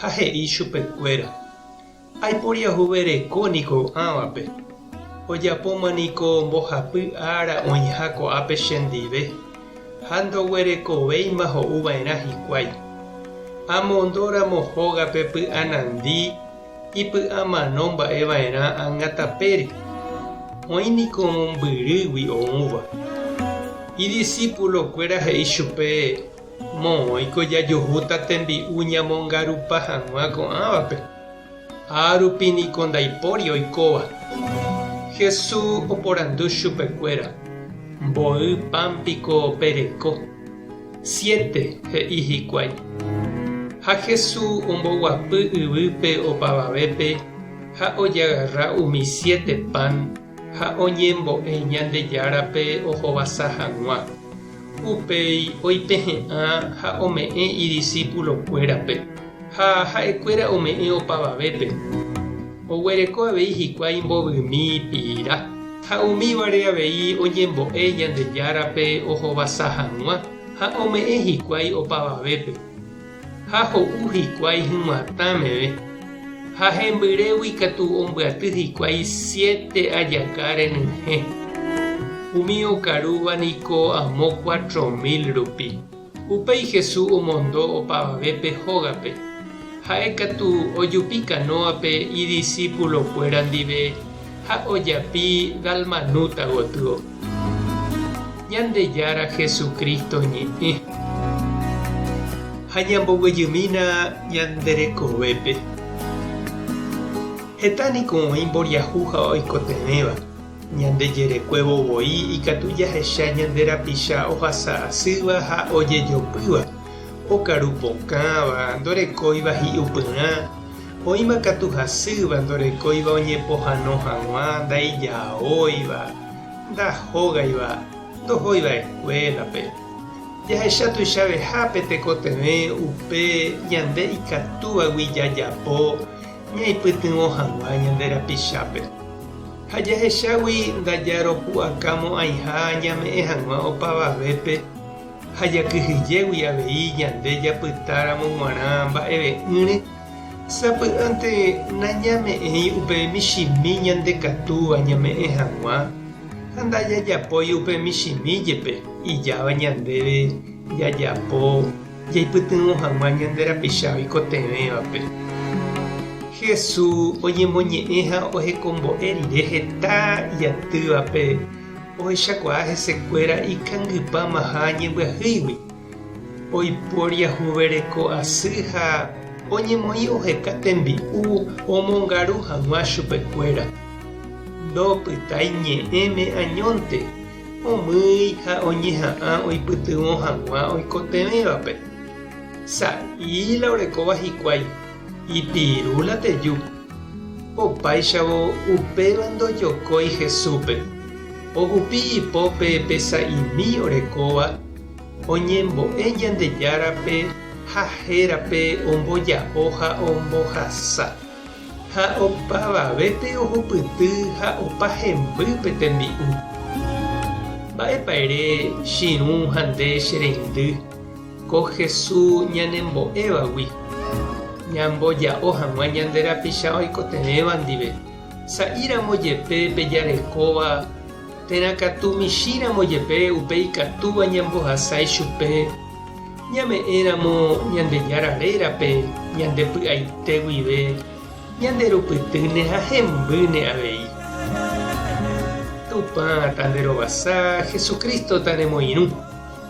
ha he'i chupekuéra, Aiporiahuvereko niko ko'ãvape, ojapóma niko mbohapy ára oĩha ko'ápe chendive, ha ndoguerekovéima ho'uva'erã hikuái. Amondóramo hógape py'anandi ipy'amano mba'eva'erã angatapére, oĩ niko mombyrýgui oũva. Idisipulokuéra he'i chupe, Moõiko jajuhúta tembi'u ñamongarupa hag̃ua ko'ãvape, ha rupi niko ndaipóri oikóva. Jesús oporandu chupekuéra, Mboy pan piko pereko? Siete, he'i hikuái. Ha Jesús omboguapy yvýpe opavavépe ha ojagarra umi siete pan, ha oñembo'e Ñandejárape ohovasa hag̃ua. Upéi oipehe'ã ha ome'ẽ idisipulokuérape, ha ha'ekuéra ome'ẽ opavavépe. Oguereko avei hikuái imbovymi pira, ha umívare avei oñembo'e Ñandejárape ohovasa hag̃ua ha ome'ẽ hikuái opavavépe. ha ho'u hikuái hyguãtã meve, ha hembyrégui katu ombyaty hikuái siete ajaka renyhẽ, umi okarúva niko amo cuatro mil rupi. Upéi Jesús omondo opavavépe hógape, ha'e katu ojupi kanóape idisípulokuéra ndive, ha ojapi Dalmanúta gotyo. Ñandejára Jesucristo ñe'ẽ. Ha ñamboguejymína ñande rekovépe. Heta niko oĩ mboriahu ha oikotevẽva, ñande jerekuévo voi ikatu jahecha ñande rapicha ohasa asýva ha ojejopýva, okaru pokãva, ndorekóiva hi'upyrã, Oĩma katu hasýva ndorekóiva oñepohano hag̃ua, ndaijaóiva, ndahógaiva, ndohóiva eskuélape. Jahecha tuichavehápe tekotevẽ upe ñande ikatúvagui jajapo ñaipytyvõ hag̃ua ñande rapichápe. Ha jahechágui ndajaropu'akamo'ãiha ñame'ẽ hag̃ua opavavépe. Ha jakyhyjégui avei ñande japytáramo g̃uarã mba'eve'ỹre, sapy'ánte nañame'ẽi upe michĩmi ñandekatúva ñame'ẽ hag̃ua, ha ndajajapói upe michĩmi jepe ijáva ñandéve jajapo jaipytyvõ hag̃ua ñande rapicha oikotevẽvape. Jesús oñemoñe'ẽ ha ohekombo'e rire heta jatývape Ohechakuaa hesekuéra ikangypámaha ñembyahýigui, oiporiahuvereko asy ha oñemoĩ oheka tembi'u omongaru hag̃ua chupekuéra. Ndopytái ñe'ẽme añónte, omýi ha oñeha'ã oipytyvõ hag̃ua oikotevẽvape. Sa'i la orekóva hikuái. Ipiru la teju. Opáichavo upéva ndojokói Jesúspe. Ohupi ipópe pe sa'imi orekóva oñembo'e Ñandejárape ha hérape omboja'o ha ombohasa. Ha opavavépe ohupyty ha opa hemby pe tembi'u. Mba'épa ere, chirũ ha nde che reindy? Ko Hesu ñanembo'évagui, ñamboja'o hag̃ua ñande rapicha oikotevẽva ndive, sa'íramo jepe pe jarekóva, térã katu michĩramo jepe upe ikatúva ñambohasái chupe, ñame'ẽramo Ñandejára rérape ñande py'aite guive, ñande rupytýne ha hembýne avei. Tupã tanderovasa, Jesucristo taremoirũ.